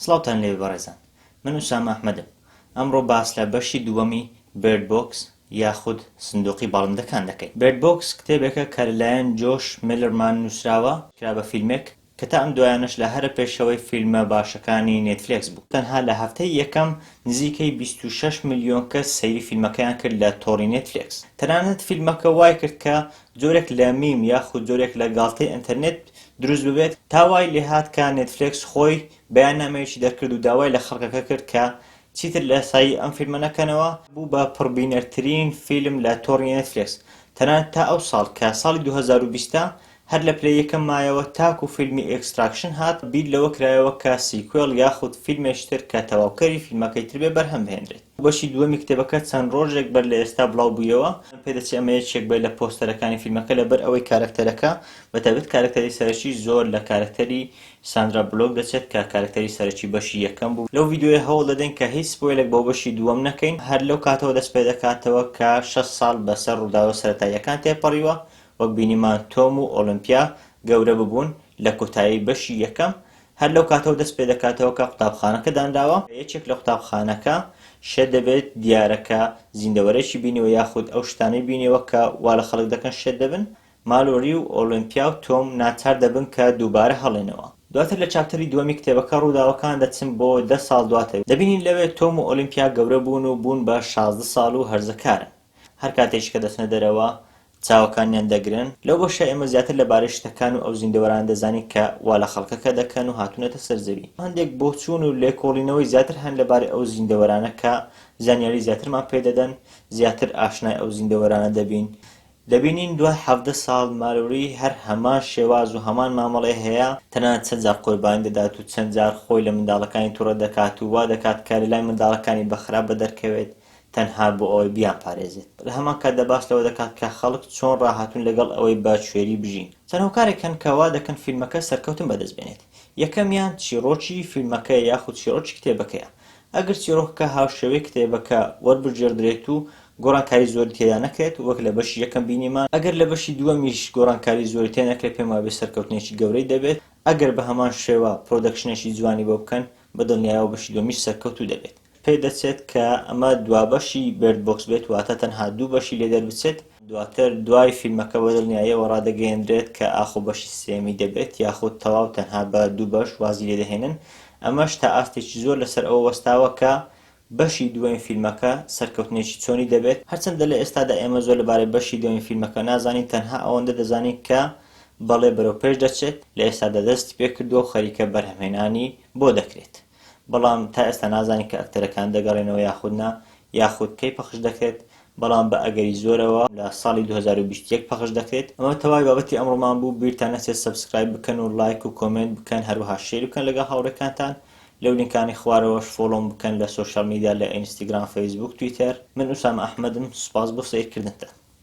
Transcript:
سڵاوتان لێبێ بەڕێزان من ئوسامە ئەحمەدم ئەمڕۆ باس لە بەشی دووەمی Bird Box یاخود سندوقی باڵندەکان دەکەین Bird Box کتێبێکە کە لەلایەن جۆش مێلەرمان نوسراوە کرا بە فیلمێک کە تا ئەم دوایانەش لە هەرە پێشەوەی فیلمە باشەکانی نێتفلێکس بوو تەنها لە هەفتەی یەکەم نزیکەی بیست و شەش ملیۆن کەس سەیری فیلمەکەیان کرد لە تۆڕی نێتفلێکس تەنانەت فیلمەکە وایکرد کە جۆرێک لە میم یاخود جۆرێک لە گاڵتەی ئەنتەرنێت دروست ببێت، تا وای لێهات کە نێتفلێکس خۆی بەیاننامەیەکی دەرکرد و داوای لە خەڵکەکە کرد کە چیتر لە سایی ئەم فیلمە نەکەنەوە، بوو بە پڕبینەرترین فیلم لە تۆڕی نێتفلێکس، تەنانەت تا ئەو ساڵ کە ساڵی دوو هەزار و بیست ە هەر لە پلەی یەکەم مایەوە تاکو فیلمی ئێکستراکشن هات، بیر لەوە کرایەوە کە سیکوێڵ یاخود فیلمێکی تر کە تەواوکەری فیلمەکەی تر بێ بەرهەم بهێنرێت. بەشی دووەمی کتێبەکە چەند ڕۆژێک بەر لە ئێستا بڵاو بوویەوە، پێدەچێ ئەمە یەکێک بێت لە پۆستەرەکانی فیلمەکە لەبەر ئەوەی کارەکتەرەکە، بە تایبەت کارەکتەری سەرەکی زۆر لە کارەکتەری ساندرا بلۆک دەچێت کە کارەکتەری سەرەکی بەشی یەکەم بوو، لەو ڤیدیۆیە هەوڵ دەدەین کە هیچ سپۆیلێک بۆ بەشی دووەم نەکەین، هەر لەو کاتەوە دەست پێ دەکاتەوە کە شەش ساڵ بەسەر ڕووداوە سەرەتاییەکان تێپەڕیوە، وەک بینیمان تۆم و ئۆڵیمپیا گەورە ببوون لە کۆتایی بەشی یەکەم، هەر لەو کاتەوە دەست پێ دەکاتەوە کە قوتابخانەکە دانراوە، یەکێک لە قوتابخانەکە شێت دەبێت، دیارەکە زیندەوەرێکی بینیوە یاخود ئەو شتانەی بینیوە کە وا لە خەڵک دەکەن شێت دەبن، مالۆری و ئۆلۆمپیا و تۆم ناچار دەبن کە دووبارە هەڵێنەوە. دواتر لە چاپتەری دووەمی کتێبەکە ڕووداوەکان دەچن بۆ دە ساڵ دواتر، دەبینین لەوێ تۆم و ئۆلۆمپیا گەورە بوون و بوون بە شازدە ساڵ و هەرزەکارن. هەر کاتێکیش کە دەچنە دەرەوە چاوەکانیان دەگرن. لەو بەشە ئێمە زیاتر لەبارەی شتەکان و ئەو زیندەوەرانە دەزانین کە وا لە خەڵکەکە دەکەن و هاتوونەتە سەر زەوی. هەندێک بۆچوون و لێکۆڵینەوەی زیاتر هەن لەبارەی ئەو زیندەوەرانە کە زانیاری زیاترمان پێ دەدەن، زیاتر ئاشنای ئەو زیندەوەرانە دەبین. دەبینین دوای حەڤدە ساڵ مالۆری هەر هەمان شێواز و هەمان مامەڵەی هەیە، تەنانەت چەند جار قوربانی دەدات و چەند جار خۆی لە منداڵەکانی توڕە دەکات و وا دەکات کە لەلای منداڵەکانی بە خراپ بەدەرکەوێت، تەنها بۆ ئەوەی بیانپارێزێت. لە هەمان کاتدا باس لەوە دەکات کە خەڵک چۆن ڕاهاتوون لەگەڵ ئەوەی بە کوێری بژین. چەند هۆکارێک هەن کە وا دەکەن فیلمەکە سەرکەوتن بەدەست بێنێت. یەکەمیان چیڕۆکی فیلمەکەیە یاخود چیڕۆکی کتێبەکەیە. ئەگەر چیڕۆکەکە هاوشێوەی کتێبەکە وەربگێڕدرێت و گۆڕانکاری زۆری تێدا نەکرێت، وەک لە بەشی یەکەم بینیمان، ئەگەر لە بەشی دووەمیش گۆڕانکاری زۆری تێ نەکرێت پێم وابێت سەرکەوتنێکی گەورەی دەبێت، ئەگەر بە هەمان شێوە پرۆدەکشنێکی جوانی بۆ بکەن، بە دڵنیایەوە بەشی دووەمیش سەرکەوتوو دەبێت. پێدەچێت کە ئەمە دوابەشی بێرد بۆکس بێت واتە تەنها دوو بەشی لێ دەربچێت، دواتر دوای فیلمەکە بە دڵنیاییەوە ڕادەگەیەنرێت کە ئاخۆ بەشی سێیەمی دەبێت یاخود تەواو تەنها بە دوو بەش وازی لێ دەهێنن، ئەمەش تا ئاستێکی زۆر لەسەر ئەوە وەستاوە کە بەشی دووەم فیلمەکە سەرکەوتنێکی چۆنی دەبێت، هەرچەندە لە ئێستادا ئێمە زۆر لەبارەی بەشی دووەمی فیلمەکە نازانین تەنها ئەوەندە دەزانین کە بەڵێ بەرەو پێش دەچێت، لە ئێستادا دەستی پێکردووە و خەریکە بەرهەمهێنانی بۆ دەکرێت. بەڵام تا ئێستا نازانین کە ئەکتەرەکان دەگەڕێنەوە یاخود نا، یاخود کەی پەخش دەکرێت، بەڵام بە ئەگەری زۆرەوە لە ساڵی دوو هەزار و بیست و یەک پەخش دەکرێت. ئەمە تەواوی بابەتی ئەمڕۆمان بوو، بیرتان نەچێت سەبسکرایب بکەن و ڵایک و کۆمێنت بکەن، هەروەها شێری بکەن لەگەڵ هاوڕێکانتان، لەو لینکانەی خوارەوەش فۆڵۆم بکەن لە سۆشیال میدیا لە ئینستگرام، فەیسبووک، تویتەر. من ئوسامە ئەحمەدم، سوپاس بۆ سەیرکردنتان.